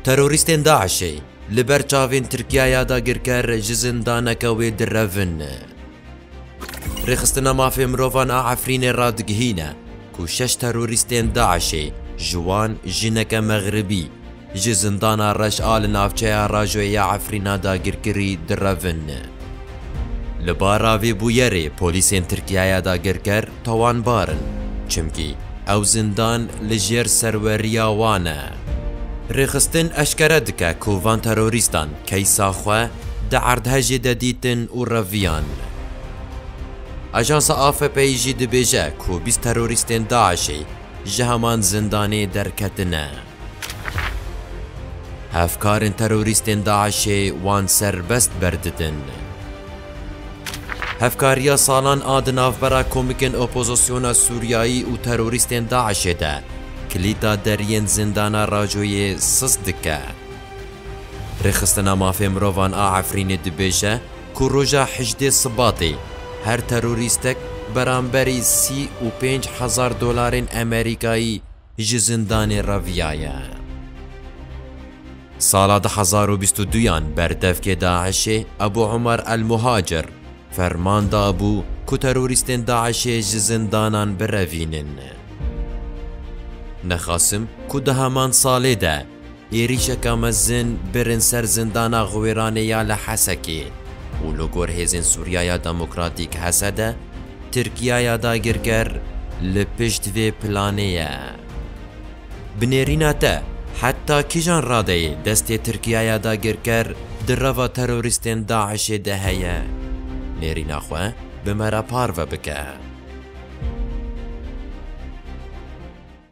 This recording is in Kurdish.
Terorîstên DAIŞ'ê li ber çavên Tirkiya ya dagirker ji zindaneke wê direvin. Rêxistina Mafê Mirovan a Efrînê radigihîne ku şeş terorîstên DAIŞ'ê ji wan jineke Mexribî ji zindana Reş a li navçeya Rajoyê ya Efrîna dagirkirî direvin. Li bara vê bûyerê polîsên Tirkiya ya dagirker Tawanbar in, çimkî ew zindan li jêr serweriya wan e. Rêxistin eşkere dike ku van terorîstan keysa xwe di erdhejê de dîtin û reviyan. Ajansa AFP'yî jî dibêje ku bîst terorîstên DAIŞ'ê ji heman zindanê derketine. Hevkarên terorîstên DAIŞ'ê wan serbest berdidin. Hevkariya salan a di navbera komikên opozisyona Sûriyayî û terorîstên DAIŞ'ê de kilîta deriyên zindana Racoyê siz dike. Rêxistina Mafê Mirovan a Efrînê dibêje ku roja hejdê Sibatê her terorîstek beramberî sî û pênc hezar dolarên Emerîkayî ji zindanê reviyaye. Sala du hezar û bîst û duyan berdevkê DAIŞ'ê Ebû Umar El Muhacir ferman dabû ku terorîstên DAIŞ'ê ji zindanan birevînin. Nexasim ku di heman salê de Êrîşeka mezin birin ser zindana Xwêranê ya li Hesekê û li gor Hêzên Sûriyaya Demokratîk, HSD, Tirkiyaya dagirker li pişt vê planê ye. Bi nêrîna te, heta kîjan radeyê destê Tirkiyaya dagirker di reva terorîstên DAIŞ'ê de heye? Nêrîna xwe bi me re parve bike.